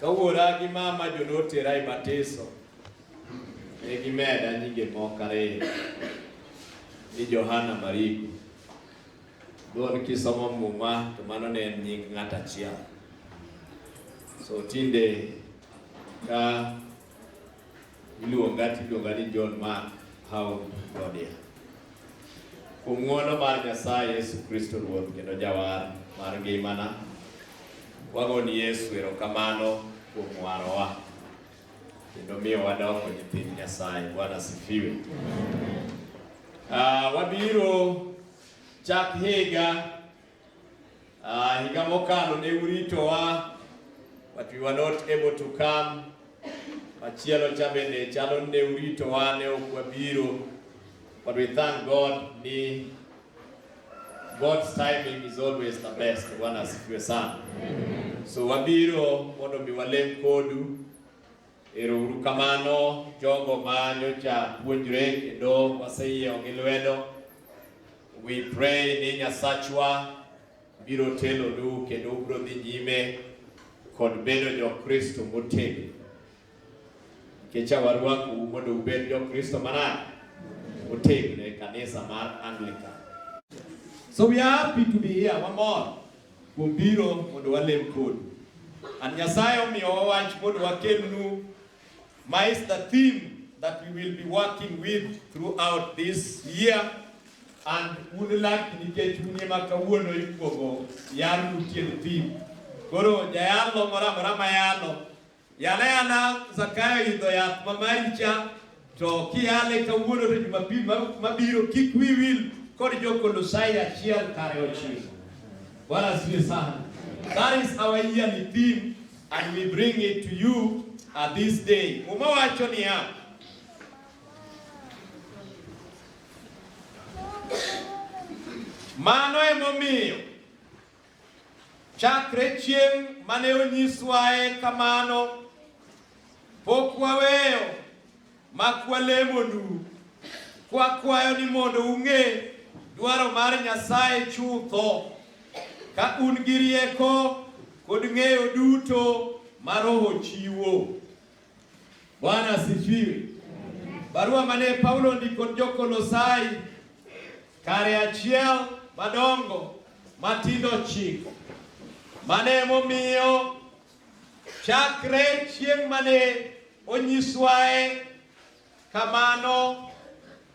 Ka wuora gi mama jo notera e batiso, ne gimeda nyinge moko ariyo ni Johana Mariko. Dhon kisomo Muma to mano ne en nying ng'at achiel. So tinde ka Iluonga tiluonga ni John Mark Haum Godia. Kuom ng'wono mar Nyasaye Yesu Kristo Ruoth kendo Jawar mar ngimana, wagoni Yesu erokamano kuom warowa kendo miyo wadoko nyithind Nyasaye. Bwana sifiwe. Uh, wabiro chak higa Uh, higa mokalo ne uritowa but we were not able to come. Machielo cha bende chalo ne uritowa ne ok wabiro but we thank God ni God's timing is always the best. Bwana asifiwe sana. So wabiro mondo mi walem kodu Ero uru kamano jogo ma nyocha puonjre kendo waseyiewo gi lwedo. We pray ni Nyasachwa biro telonu kendo ubiro dhi nyime kod bedo jo-Kristo motegno. Nikech awarwaku mondo ubed jo-Kristo manade motegno e kanisa mar Anglican. So we are happy to be here. One more. Kuom biro mondo walem kodu. And Nyasaye omiyowa wach mondo wakelnu ma is the theme that we will be working with throughout this year and un laki nikech un ema kawuono ikuogo yar utie theme. Koro jayalo moro amora mayalo Yana yana Zakayo idho yath ma maricha to kiyale kawuono to Jumapil mabiro kik wi wil kod jo-Kolosai achiel kare ochiko. Bwana asifiwe sana. That is our yearly theme and we bring it to you at this day. Muma wacho niya, mano emomiyo Chakre chieng' mane onyiswae kamano, pok waweyo mak walemonu, kwakwayo ni mondo ung'e dwaro mar Nyasaye chutho, ka un gi rieko kod ng'eyo duto ma Roho chiwo. Bwana asifiwe. Barua mane Paulo ndiko jo-Kolosai kare achiel madongo matindo chiko mane momiyo chakre chieng' mane onyiswae kamano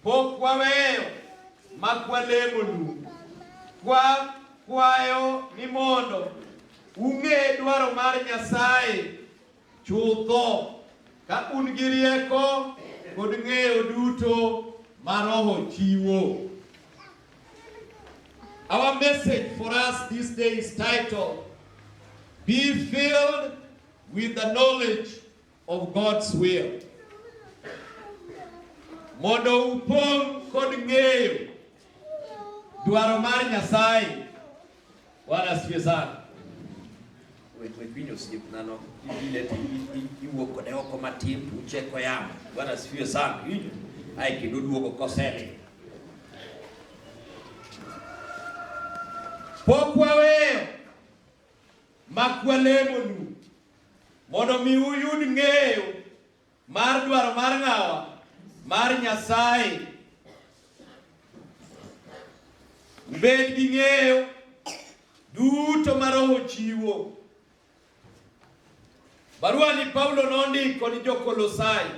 pok waweyo mak walemo lu kwa kwayo ni mondo ung'e dwaro mar Nyasaye Chutho, ka un gi rieko kod ng'eyo duto ma Roho chiwo. Our message for us this day is titled, Be filled with the knowledge of God's will. Mondo upong' kod ng'eyo dwaro mar Nyasaye. Bwana asifiwe sana. Wepinyo siku nano ile iwo kode oko matin uche kwa yamo. Bwana asifiwe sana. Hiyo ai kidudu oko kosele. Pokwa wewe makwalemo nu mondo mi uyud ng'eyo Mar dwaro mar ng'awa? Mar Nyasaye. Ubed gi ng'eyo duto ma Roho chiwo. Barua ni Paulo nondiko ni Jo-Kolosai.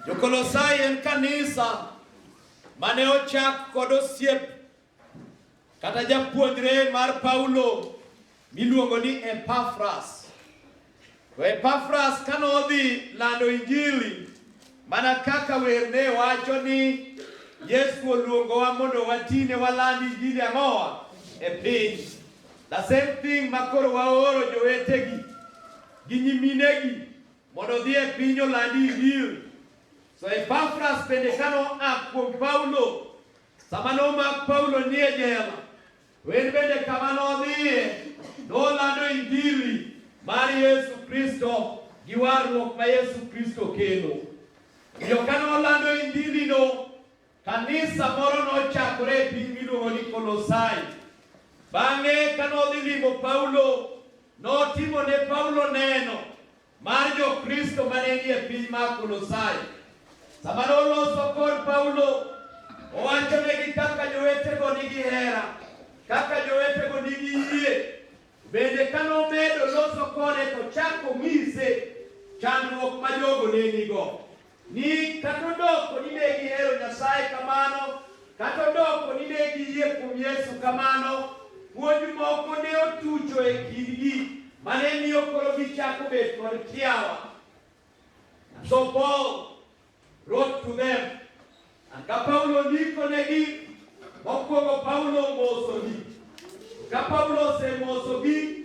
Jo-Kolosai en kanisa mane ochak kod osiep Kata japuonjre mar Paulo miluongo ni Epafras. To Epafras kane odhi lando Injili, mana kaka wer ne wacho ni Yesu oluongowa mondo watine waland Injili ang'owa e piny. The same thing ma koro waoro jowetegi gi nyiminegi mondo odhi e piny oland Injili. So Epafras bende kano a kuom Paulo Sama nomak Paulo nie jela, to en bende kama nodhiye nolando injili mar Yesu Kristo gi warruok ma Yesu Kristo kelo. Omiyo ka nolando injilino, kanisa moro nochakore e piny miluongo ni Kolosai. Bang'e ka nodhi limo Paulo, notimo ne Paulo neno mar Jokristo ma ne nie piny mar Kolosai. Sama noloso kod Paulo, owachonegi kaka jowetego nigi hera, kaka jowetego nigi yie. Bende ka nomedo loso kode to chako ng'ise chandruok ma jogo ne nigo. Ni kata odoko ni ne gihero Nyasaye kamano, kata odoko ni ne giyie kuom Yesu kamano, puonj moko ne otucho e kindgi ma ne miyo koro gichako bet kod kiawa. And so Paul wrote to them, and ka Paulo ndikonegi, mokwongo Paulo omosogi. Ka Paulo osemosogi,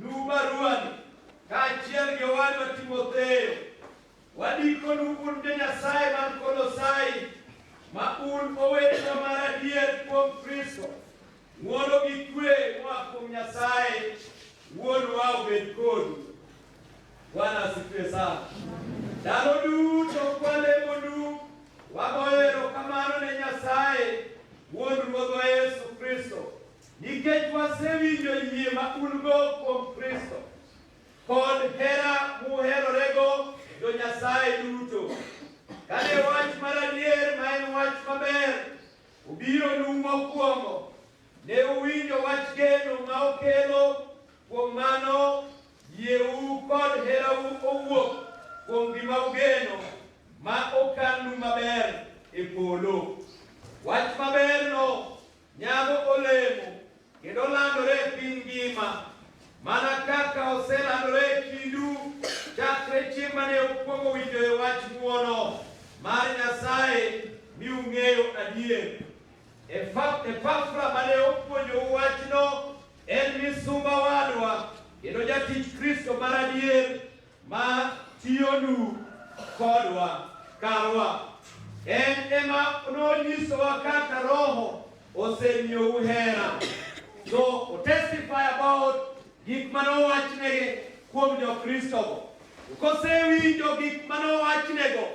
Luw baruani kaachiel gi owadwa Timotheo. Wandikonu un jo-Nyasaye man Kolosai, ma un owetewa mar adier kuom Kristo. Ng'wono gi kwe moa kuom Nyasaye Wuonwa obed kodu. Bwana asifiwe sana. Ndalo duto kwalemonu, wagoyo erokamano ne Nyasaye Wuon Ruodhwa Yesu Kristo Nikech wasewinjo yie ma un-go kuom Kristo kod hera muherorego jo-Nyasaye duto, kane wach mar adier ma en wach maber obironu mokwongo, ne uwinjo wach geno ma okelo, kuom mano yieu kod herau owuok kuom gima ugeno ma okannu maber e polo. Wach maberno Nyago olemo kendo landore e piny ngima mana kaka oselandore e kindu chakre chieng' mane ukwongo winjoe wach ng'wono mar Nyasaye mi ung'eyo adier. Epafra mane opuonjou wachno en misumba wadwa kendo jatich Kristo mar adier ma tiyonu kodwa karwa. En ema nonyisowa kaka Roho osemiyou hera. So otestify about gik mane owachnego kuom jo-Kristogo. Kosewinjo gik mane owachnego,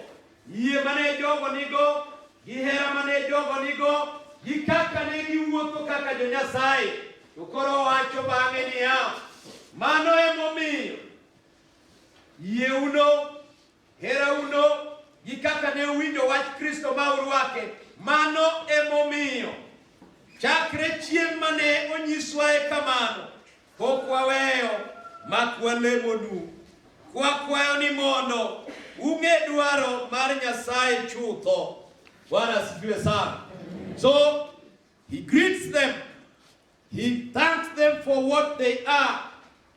yie mane jogo nigo, gi hera mane jogo nigo, gi kaka ne giwuotho kaka jo-Nyasaye, to koro owacho bang'e niya, mano emomiyo Yieuno, herauno, gi kaka ne uwinjo wach Kristo ma urwake, mano emomiyo chakre chieng' mane onyiswae kamano pok waweyo mak walemonu kwakwayo ni mondo ung'e dwaro mar Nyasaye chutho. Bwana asifiwe sana. So he greets them He thanks them for what they are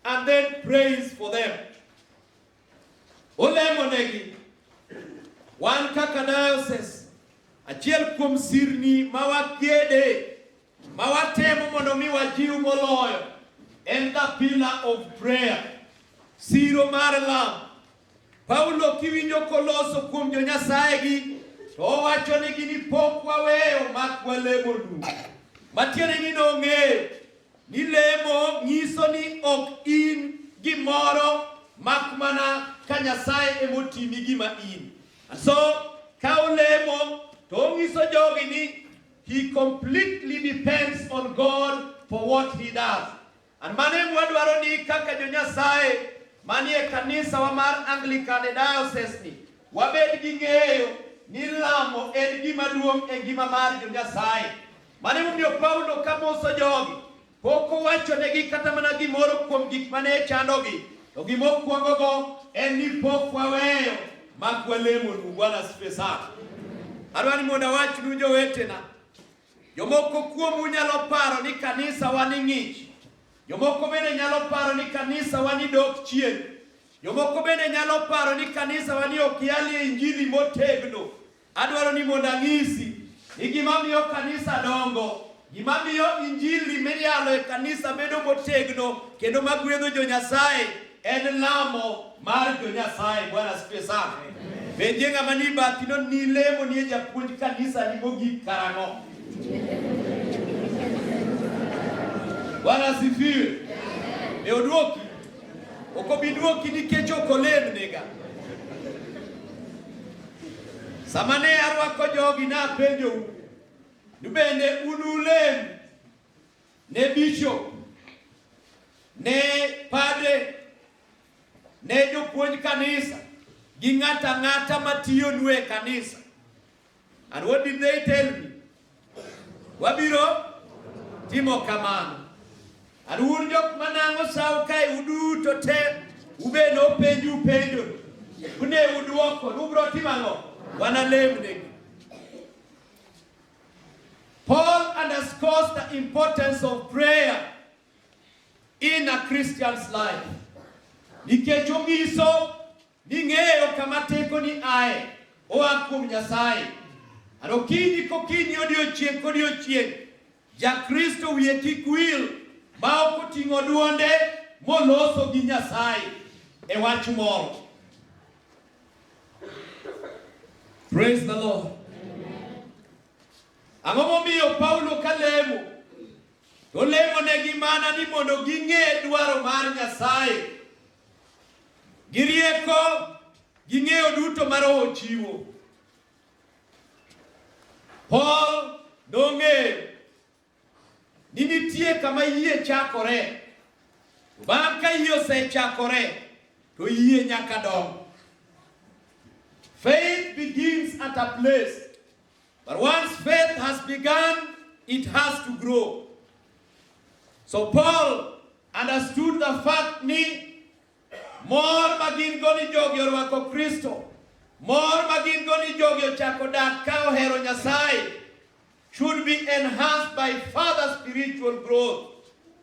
and then prays for them. Olemonegi wan kaka diocese achiel kuom sirni ma wakede ma watemo mondo mi wajiw moloyo en the pillar of prayer, siro mar lam Paulo kiwinjo koloso kuom jo Nyasaye gi to owacho ni gini pok waweyo mak walemo du. Matiende ni nong'eyo ni lemo nyiso ni ok in gimoro mak mana ka Nyasaye emotimi gima in. So ka olemo to onyiso jogi ni he completely depends on God for what he does. An mane mwadwaro ni kaka jo-Nyasaye manie kanisawa mar Anglican e diocese ni wabed gi ng'eyo ni lamo en gima duong' e ngima mar jo-Nyasaye. Mane momiyo Paulo ka moso jogi pok owachonegi kata mana gimoro kuom gik mane chandogi, to gima okwongogo en ni pok waweyo mak walemonu. Bwana asifiwe sana. Adwa ni mondo awachnu jowetena Jomoko kuomu nyalo paro ni kanisa wa ni ng'ich. Jomoko bende nyalo paro ni kanisa wa ni dok chien. Jomoko bende nyalo paro ni kanisa wa ni ok yalie injili motegno. Adwaro ni mondo ang'isi ni gima miyo kanisa dongo gima miyo injili miyalo e kanisa bedo motegno kendo magwedho jo Nyasaye En lamo mar jo Nyasaye. Bwana asifiwe sana. Penje ng'ama ni bathi no ni lemo ni japuonj kanisa ni mogik karang'o? Bwana asifiwe. E odwoki. Ok obi dwoki nikech ok olemnega. Sama ne arwako jogi napenjou, ni bende unulem ne bishop, ne padre, ne jopuonj kanisa gi ng'ato ang'ata matiyonu e kanisa. And what did they tell me? Wabiro timo kamano. And un jok manang'o sawo kae uduto te ubed nopenju penjo une udwoko ni ubiro timo ang'o? Wanalemnegi. Paul underscores the importance of prayer in a Christian's life. Nikech onyiso ni ng'eyo kama teko ni ae oa kuom Nyasaye. Aro kiny kokinyi odiochieng' kodiochieng' Jakristo wiye kik wil ma ok oting'o dwonde moloso gi Nyasaye e wach moro. Praise the Lord. Ang'o momiyo Paulo ka lemo? To lemonegi mana ni mondo ging'e dwaro mar Nyasaye gi rieko gi ng'eyo duto ma Roho chiwo. Paul nong'eyo ni nitie kama yie chakore. Bang' ka yie osechakore to yie nyaka dong. Faith begins at a place. But once faith has begun, it has to grow. So Paul understood the fact ni mor ma gin go ni jogi orwako Kristo, mor ma gin go ni jogi ochako dak ka ohero Nyasaye, should be enhanced by further spiritual growth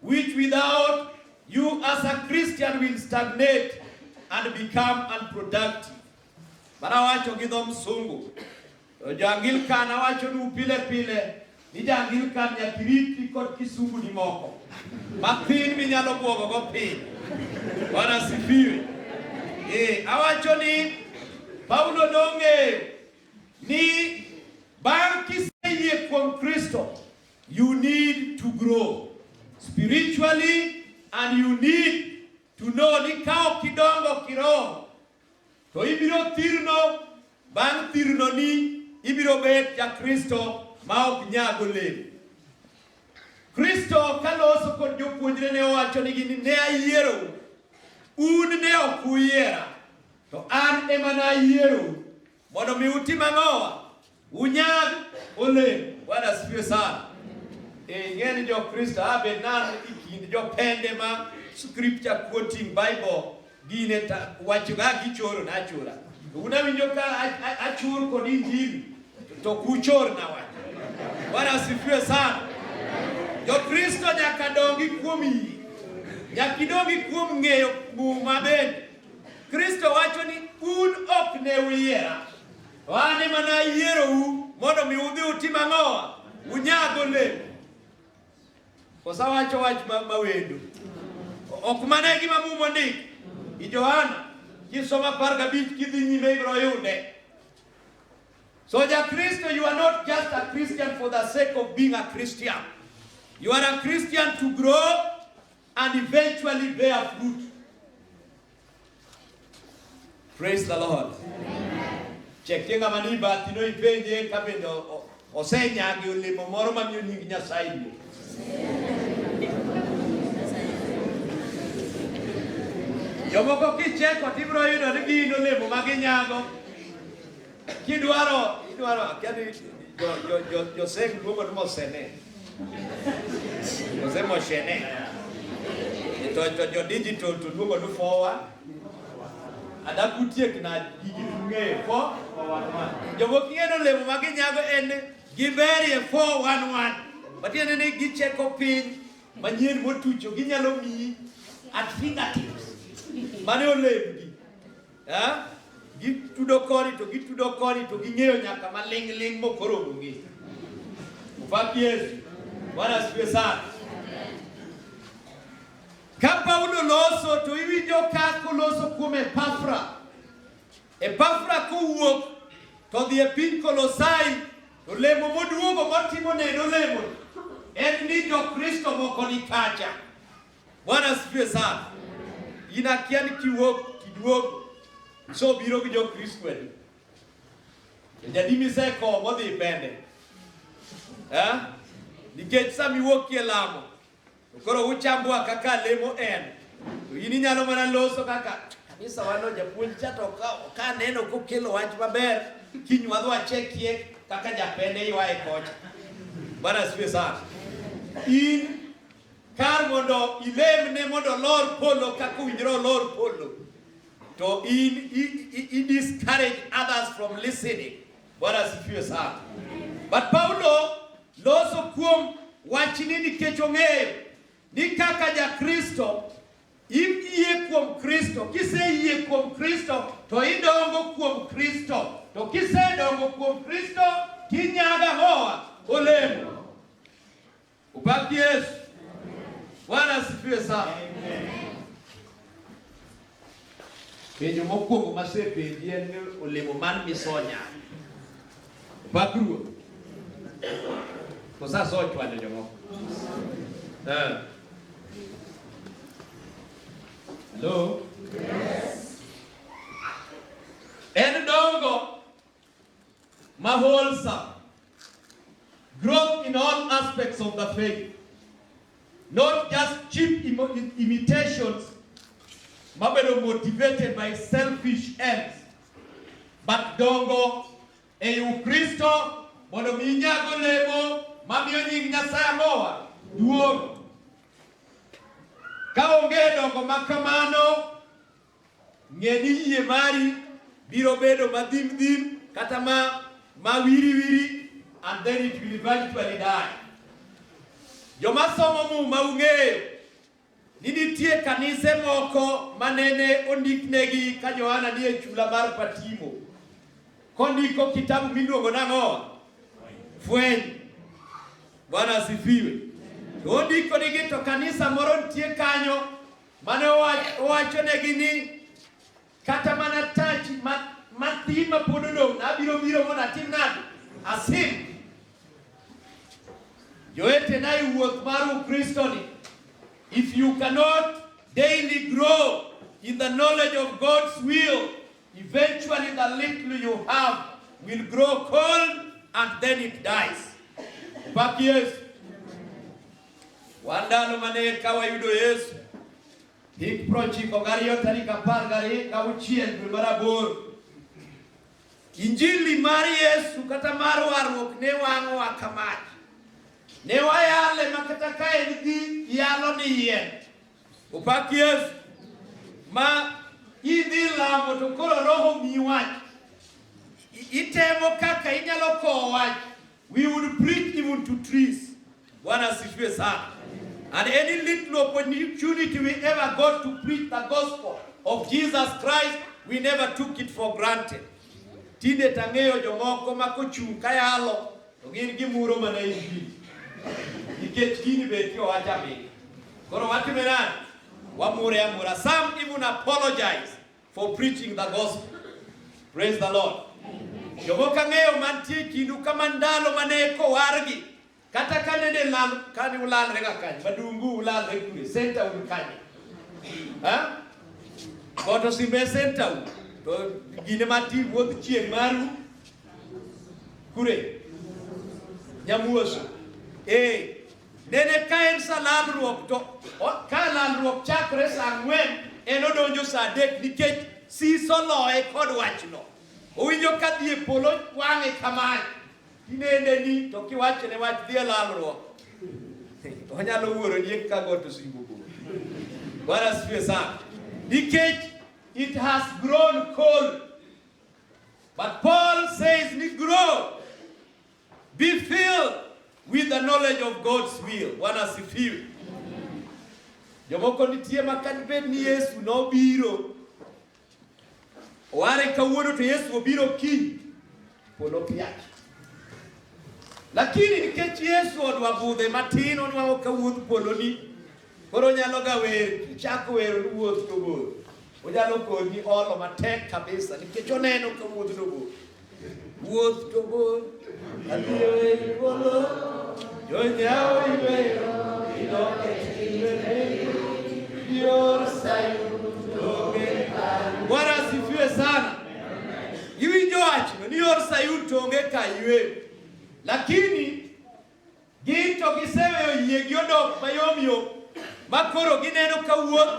which without you as a Christian will stagnate and become unproductive. Mara wacho gi dho msungu to jo-Anglikan awacho nu pile pile ni jo-Anglikan nyaka iriti kod kisunguni moko mathin minyalo bwogogo piny. Bwana asifiwe. Eh, awacho ni Paulo nong'eyo Ni bang' kiseyie kuom Kristo, you need to grow spiritually and you need to know ni ka ok idongo kiroho to ibiro thirno bang' thirno ni ibiro bet ja Kristo ma ok nyag olemo. Kristo kaloso kod jopuonjre ne owacho nigi ni ne ayiero un ne ok uyiera To an ema nayierou mondo mi utim ang'owa? Unyag olemo. Bwana asifiwe sana. Ing'e ni Jokristo abe nan e kind jopende ma scripture quoting Bible gine wachoga gichoro nachora. Unawinjo ka achur kod Injili to kuchor na wach. Bwana asifiwe sana. Jokristo nyaka dongi kuom yie. Nyaka idongi kuom ng'eyo muma bende. Kristo wacho ni un ok ne uyiera, to an ema nayierou mondo mi udhi utim ang'owa? Unyag olemo. Kosa wacho wach ma, ma wendo. Ok mana gima mumo ndik. I Johana kisoma apar gabich kidhi nyime ibiro yude. So ja Kristo, you are not just a Christian for the sake of being a Christian. You are a Christian to grow and eventually bear fruit. Praise the Lord. Chekenga maniba tino ipenje kabendo osenyagi olemo moro mamiyo nying Nyasaye duong'. Jomoko kicheko tibiro yudo ni gin olemo ma ginyago Kidwaro, idwaro, akia ni jo, jo, jo, jo Seng luongo ni Mosene. Mose Moshene. To, to jo digital to luongo ni Fowa. Ada kutiek na gigi tung'eyo. Fo, jomok ng'eyo ni olemo ma ginyago en giberie 411. Matiende ni gicheko piny manyien motucho ginyalo miyi at fingertips. Mane olembgi. Ha? Gitudo koni to gitudo koni to ging'eyo nyaka maling' ling' mokoro onge. Ufaki Yesu. Bwana asifiwe sana. Ka Paulo loso to iwinjo ka koloso kuom Epafra. Epafra kowuok to dhi e piny Kolosai to lemo moduogo motimo neno lemo en ni jo Kristo moko ni kacha. Bwana asifiwe sana. Inakia ni kiwok kiduogo so biro gi Jokristo adi jadimi seko modhi pende eh? nikech sama iwuokie lamo to koro uchambwa kaka lemo en to in inyalo mana loso kaka kanisa wano japuonj cha to ka neno kokelo wach maber kiny wadhi wachekie kaka japende ywaye kocha bwana siwe sana in Kar mondo ilemne mondo olor polo kaka owinjore olor polo, to in i discourage others from listening. Bwana asifiwe sana. But Paulo loso kuom wachni nikech ong'eyo ni kaka ja Kristo iyie kuom Kristo. Kiseyie kuom Kristo to idongo kuom Kristo, to kisedongo kuom Kristo tinyaga hoa olemo Ubaki Yesu. Bwana asifiwe sana. Penjo mokwongo masepenji en ni olemo man misonya. Ubak ruoth. Kosa so chwado jomoko. Eh. Hello? En dongo Maholsa, growth in all aspects of the faith, not just cheap im imitations, mabedo motivated by selfish ends, but dongo e Ukristo mondo mi inyago lemo mamiyo nying Nyasaye mowa duong'. Ka onge dongo ma kamano, Ng'e ni yie mari biro bedo ma dhim dhim kata ma ma wiri wiri and then it will eventually die. Joma somo Muma ung'eyo ni nitie kanise moko ma nene ondiknegi ka Johana ni e chula mar Patimo kondiko kitabu miluongo nang'o? Fweny. Bwana asifiwe. Ondiko nigi to kanisa moro nitie kanyo Mane owachonegi ni kata mana tach matin ma pod odong' abiro biro mondo atim nade? Asim. Jowetena e wuoth mar Ukristoni, if you cannot daily grow in the knowledge of God's will, eventually the little you have will grow cold and then it dies. Back years. Wandalo mane eka wayudo Yesu hik prochiko gariyo tarik apar gariyo gauchiel dwe mar aboro Injili mar Yesu kata mar warruok ne wang'owa ka mach. Ne wayale ma kata ka en gi yalo ni yien. Opak Yesu ma idhi lamo to koro roho miyi wach. Itemo kaka inyalo kowo wach We would preach even to trees. Bwana asifiwe sana. And any little opportunity we ever got to preach the gospel of Jesus Christ, we never took it for granted. Tinde tang'eyo jomoko ma kochung' kayalo to gin gimuro mana injili nikech gini beti owacha mi koro watime nani wamure amura some even apologize for preaching the gospel. Praise the Lord. Jogo kang'eyo mantie kindu kama ndalo mane kowargi kata kane ne lal kane ulalre ga kanye madungu ulalre kure senta un kanye ha koto simbe senta un to gine mati wuodh chieng' maru kure nyamuoso eh Nene ka en sa lalruok to ka lalruok chakre sa ang'wen en odonjo sa adek nikech siso loye kod wachno. Owinjo ka dhi e polo wang'e kamae tinende ni to kiwachone wach dhi e lalruok onyalo wuoro ni ka got osingo bor. Bwana asifiwe sana. Nikech it has grown cold. But Paul says ni grow Be filled with the knowledge of God's will. Bwana asifiwe. Jomoko nitie ma kata bed ni Yesu nobiro ware kawuono to Yesu obiro kiny pod opiaki. Lakini nikech Yesu odwa budhe matin onwang'o ka wuodh polo ni Koro onyaloga wer, kichako wer owuoth to bor. Onyalo konyi olo matek kabisa nikech oneno ka wuoth to bor. Wuoth to bor, adhiyo e polo, jonyawo iweyo, idok e timbene, ior Sayun tonge kaywe. Bwana asifiwe sana. Iwinjo wachno ni or Sayun tonge kaywe. Lakini Gin to giseweyo yiegi odok mayom yom ma koro gineno ka wuoth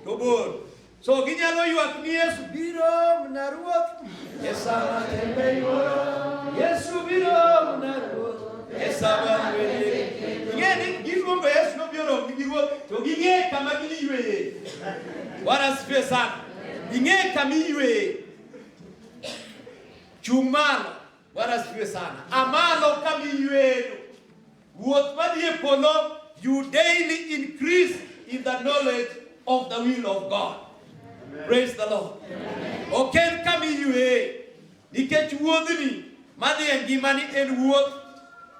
to bor. So ginyalo ywak ni Yesu biro na ruoth. Esa matembe yuoro. Yesu biro na ruoth. Esa matembe. Ing'e ni giluongo Yesu no biro gi gigo to ging'e kama giyueye. Bwana asifiwe sana. Ing'e kama iyueye. Chung' malo. Bwana asifiwe sana. Amalo kamiyweyo. Wuoth madhi e polo, you daily increase in the knowledge of the will of God. Amen. Praise the Lord. Ok en kamiywe nikech wuodhni madhi e ngimani en wuoth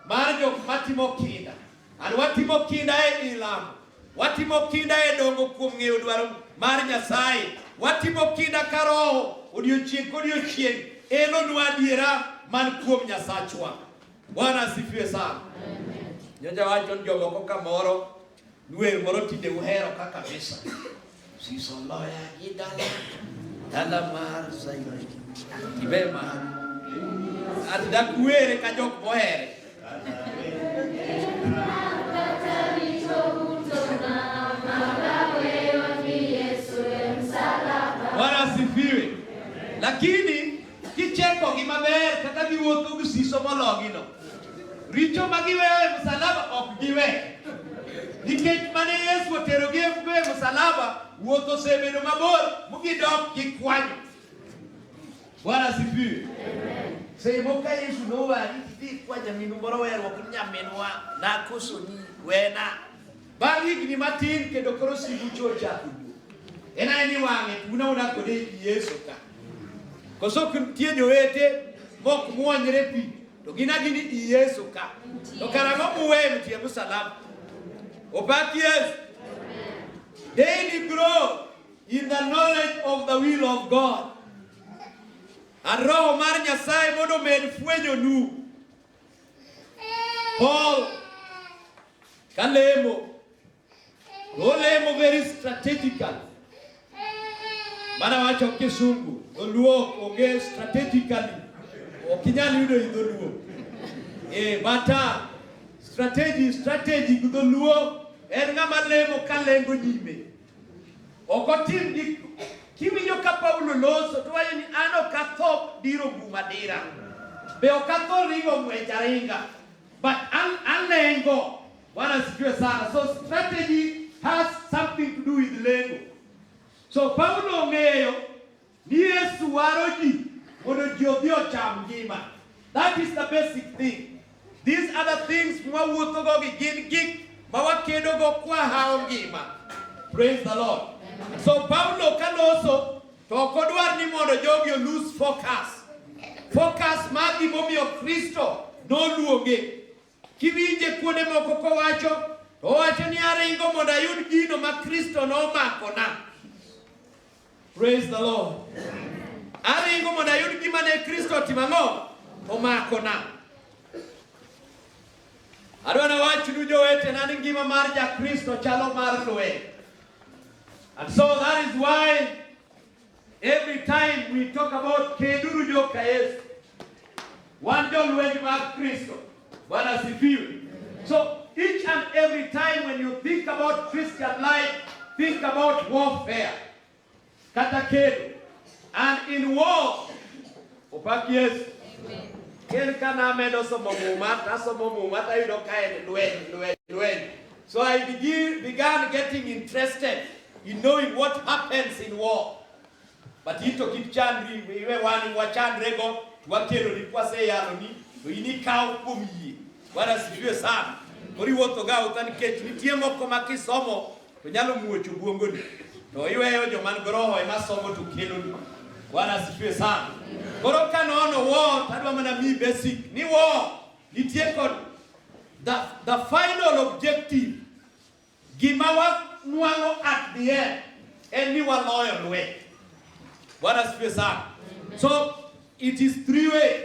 mar jok matimo kinda. An watimo kinda e ilamo, watimo kinda e dongo kuom ng'eyo dwaro mar Nyasaye, watimo kinda ka roho odiochieng' kodiochieng' elonwa adiera man kuom Nyasachwa. Bwana asifiwe sana. Nyocha wacho ni jomoko kamoro nwer moro tinde uhero ka kabisa. Sisoloya gidala dala mar Sayun ibe mar adak were ka jok mohere Bwana asifiwe. Lakini Kichekogi maber kaka giwuotho gi siso mologino. Richo ma giweyo e msalaba ok giwe. Nikech mane Yesu oterogi e msalaba, wuoth osebedo mabor mugidok gikwanyo. Bwana asifiwe. Seche moko ka Yesu nowari idhi kwa nyaminu moro weruok ni nyaminwa nakosoni wena Bang' higni matin kendo koro sibucho ochako wuok. En ae ni wang'e tuna una kode i Yesu ka. Koso nitie jowete mok mwonyre pi to gin agini i Yesu ka. To karang'o muweyo mtie msalaba? Opak Yesu. Daily grow in the knowledge of the will of God. A roho mar Nyasaye mondo med fwenyonu Paul kalemo nolemo very strategical mana wacho kisungu dholuo onge strategically ok inyal yudo i dholuo eh, but uh, strategy strategy gi dholuo en ng'ama lemo kalengo nyime Ok otim gik kiwinjo ka Paulo loso to wacho ni an ok atho diro gum adira. Be ok atho ringo ng'wech aringa. But an alengo. Bwana sijue sana. So strategy has something to do with lengo. So Paulo ong'eyo Ni Yesu waro ji mondo ji odhi ocham ngima. That is the basic thing. These other things mwawuothogo gi gin gik ma wakedogo kwa hawo ngima. Praise the Lord. Amen. So Paulo ka loso to ok odwar ni mondo jogi olose focus. Focus mar gimomiyo Kristo noluonge. Kiwinje kuonde moko kowacho, to owacho ni aringo mondo ayud gino ma Kristo nomakona. Praise the Lord. Aringo mondo ayud gima ne Kristo otimo ang'o? Omakona. Adwa nawachnu jowetena ni ngima mar Jakristo chalo mar lweny. And so that is why Every time we talk about Keduru Joka Yesu. Wan jolwenj mag Kristo. Bwana sifiwe. So each and every time when you think about Christian life, think about warfare. Kata kedo. And in war, Opak Yesu. Ker ka namedo somo muma, nasomo muma tayudo ka en lweny, lweny, lweny. So I begin, began getting interested in knowing what happens in war. But ito kik chandri, iwe wani wachandrego, wakeloni kwaseyaloni, to in ikaw kuom yie. Bwana sifiwe sana. Koriwuothoga uta nikech nitie moko ma kisomo To nyalo muocho guongoni. To iweyo joman goroho ema somo to keloni. Bwana asifiwe sana. Koro ka nono wo tadwa mana mi basic ni wo nitie kod the, the final objective gima wanwang'o at the end en ni waloyo lweny. Bwana asifiwe sana. So it is three way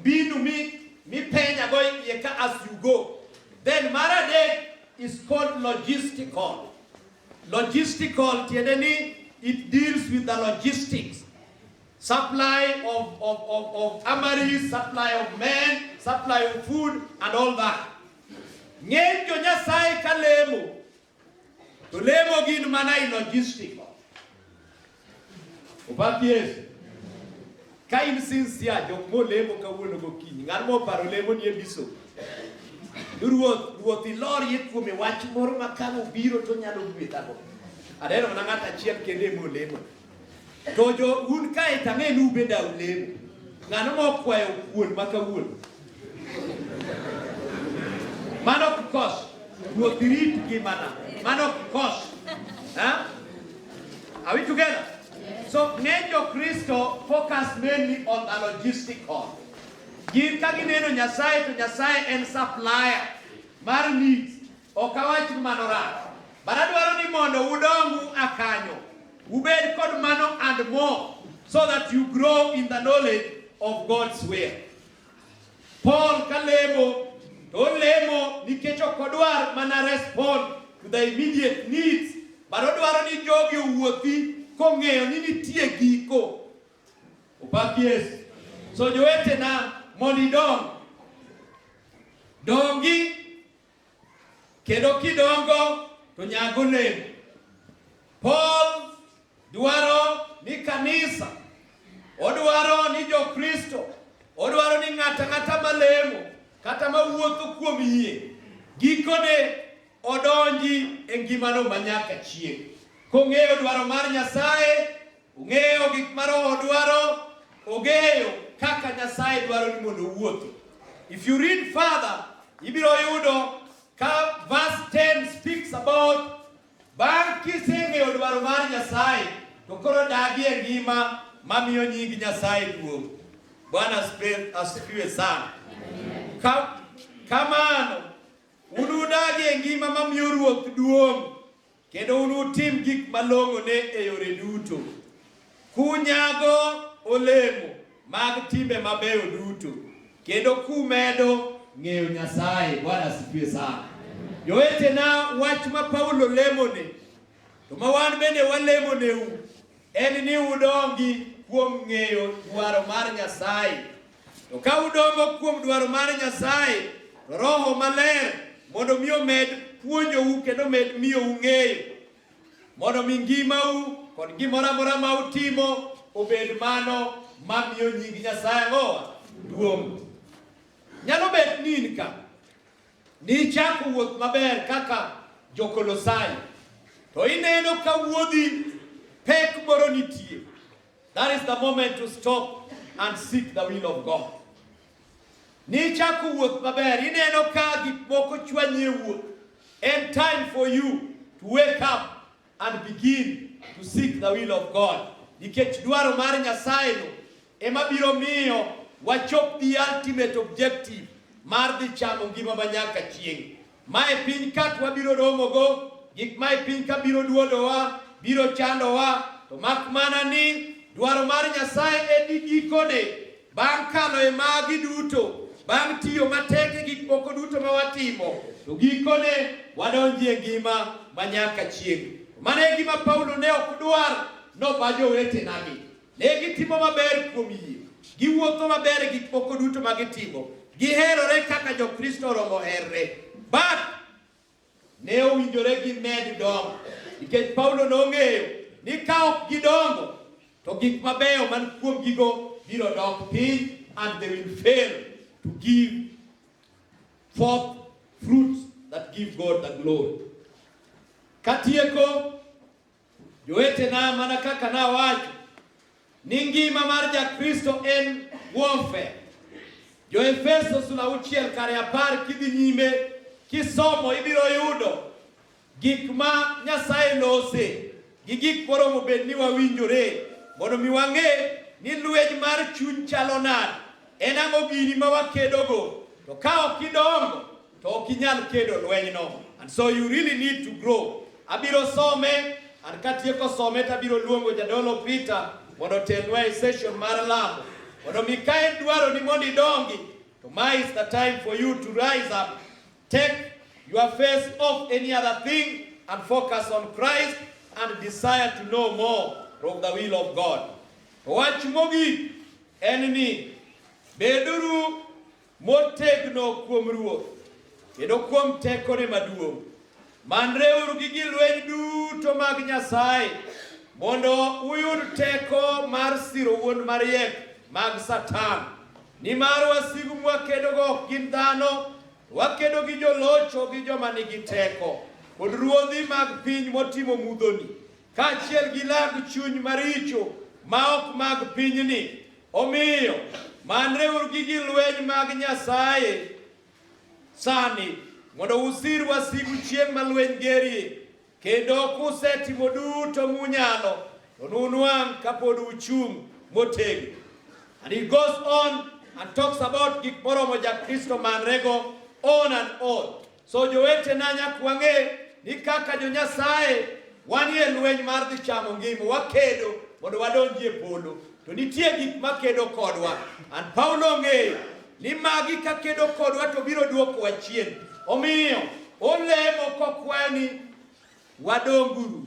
Mbinu mi mipenya go iye ka as you go. Then mar adek is called logistical. Logistical tiende ni it deals with the logistics. Supply of, of, of, of armories, supply of men, supply of food and all that. Ng'eny jo Nyasaye ka lemo To lemo gin mana i logistical. Opak Yesu. Ka in sincere, jok molemo kawuono gokinyi, ng'at moparo lemo ni e biso. Ruoth, ruoth ilor ye kuome wach moro ma ka obiro to nyalo gwedhago. Aneno mana ng'at achiel kende molemo. To jo un kae to ang'e ni ubeda ulemo. Ng'ano ma okwayo kuon ma kawuono? Mano ok kos. Ruoth rit ngimana. Mano ok kos. Ha? Are we together? So ng'eny jo Kristo focus mainly on the logistical. Gin ka gineno Nyasaye to Nyasaye en supplier mar needs. Ok awach ni mano rach, but adwaro ni mondo udongu akanyo, ubed kod mano and more, so that you grow in the knowledge of God's will. Paul kalemo to olemo nikech ok odwar mana respond to the immediate needs, but odwaro ni jogi owuothi kong'eyo ni nitie giko. Opak Yesu. So jowetena mondo idong dongi Kendo kidongo to nyago olemo. Paul dwaro ni kanisa, odwaro ni Jokristo, odwaro ni ng'ata ng'ata malemo kata mawuotho kuom yie gikone odonji e ngimano manyaka chieng' kong'eyo dwaro mar Nyasaye Ung'eyo gik ma Roho dwaro, ong'eyo kaka Nyasaye dwaro ni mondo uwuothi. If you read further, ibiro yudo ka verse 10 speaks about bang' kiseng'eyo dwaro mar Nyasaye to koro dagie ngima mamiyo nying Nyasaye duong'. Bwana asifiwe sana. Ka, kamano unudagie ngima mamiyo Ruoth duong' Kendo unutim gik malong'one e yore duto, kunyago olemo mag timbe mabeyo duto, kendo kumedo ng'eyo Nyasaye. Bwana asifiwe sana. Jowetena, wach ma Paulo lemone to ma wan bende walemoneu en ni udongi kuom ng'eyo dwaro mar Nyasaye To ka udongo kuom dwaro mar Nyasaye, to Roho Maler mondo mi omed puonjou kendo omed miyo ung'eyo, mondo mi ngimau kod gimoro amora ma utimo obed mano ma miyo nying Nyasaye ang'owa duong'. Nyalo bet ni in ka nichako wuoth maber kaka jokolosai to ineno ka wuodhi pek moro nitie That is the moment to stop and seek the will of God. Nichako wuoth maber, ineno ka gik moko chwanyi e wuoth. And time for you to wake up and begin to seek the will of God. Nikech dwaro mar Nyasaye no ema biro miyo wachop the ultimate objective mar dhi chamo ngima ma nyaka chieng'. Mae piny kat wabiro romogo, gik mae piny ka biro duodowa, biro chandowa, to mak mana ni dwaro mar Nyasaye en ni gikone, bang' kalo e magi duto, bang' tiyo matek e gik moko duto ma watimo, to gikone wadonjie ngima ma nyaka chieng'. Mano e gima Paulo ne ok dwar noba jowetenagi. Ne gitimo maber kuom yie, giwuotho maber e gik moko duto ma gitimo, giherore kaka Jokristo oromo herre. But ne owinjore gimed dongo nikech Paulo nong'eyo ni ka ok gidongo to gik mabeyo man kuom gigo biro dok piny and they will fail to give forth fruits that give God the glory. Katieko Jowetena, mana kaka nawacho ni ngima mar Jakristo en warfare. Jo-Efeso sula auchiel kare apar kidhi nyime kisomo ibiro yudo gik ma Nyasaye lose gi gik moromo bed ni wawinjore mondo mi wang'e ni lweny mar chuny chalo nade, en ang'o gini ma wakedogo, to ka ok idongo To ok inyal kedo lwenyno. And so you really need to grow. Abiro some and katieko some to abiro luongo jadolo Peter mondo otelnwa e session mar lamo. Mondo mi ka en dwaro ni mondo idongi to ma is the time for you to rise up. Take your face off any other thing and focus on Christ and desire to know more of the will of God. Wach mogik en ni beduru Motegno kuom Ruoth, kendo kuom tekone maduong'. Manreuru gi gi lweny duto mag Nyasaye, mondo uyud teko mar siro wuond mariek mag Satan. Nimar wasigu mwakedogo ok gin dhano, wakedo gi jolocho gi joma nigi teko, kod ruodhi mag piny motimo mudhoni, Kaachiel gi lag chuny maricho ma ok mag pinyni. Omiyo, manreuru gi gi lweny mag Nyasaye sani mondo usir wasigu chieng' ma lweny gerie, kendo kusetimo duto munyalo, to nunwang' kapod uchung' motegno. And he goes on and talks about gik moromo ja Kristo manrego on and on. So jowetena, nyaka wang'e ni kaka jo-Nyasaye wanie lweny mar dhi chamo ngima, wakedo mondo wadonji e polo, to nitie gik makedo kodwa. An Paulo ong'eyo ni magi kakedo kodwa to biro dwokowa chien. Omiyo olemo kokwayo ni wadonguru